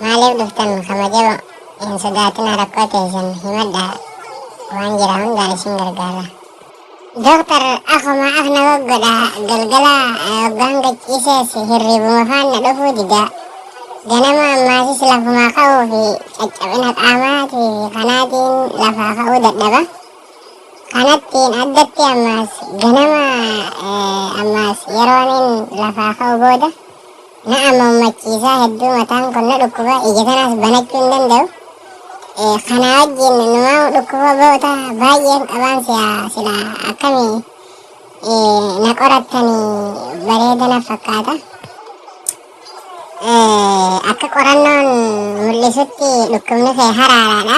maaliif dhuftan kabajama hin sodaatina rakkoo teessan himadha waan jira hundaa isin gargaara doktar akuma af na goggodha galgala hoggaan gachiisees hirribuma faan na dhufuu dida ganama ammaasis lafumaa ka'uu fi caccabina qaamaatii fi kanaatiin lafaa ka'uu dadhaba Kanattiin addatti ammaas ganama eh, ammaas yeroonin lafaa ka'u booda na ammammachiisaa hedduu mataan kun na dhukkuba ija kanaas banachuu hin danda'u. Eh, Kana wajjin numaa dhukkuboota baay'een qabaan si'a sila akkamii eh, na qorattanii bareeda na fakkaata. Eh, Akka qorannoon mul'isutti dhukkubni kee haraaraadha.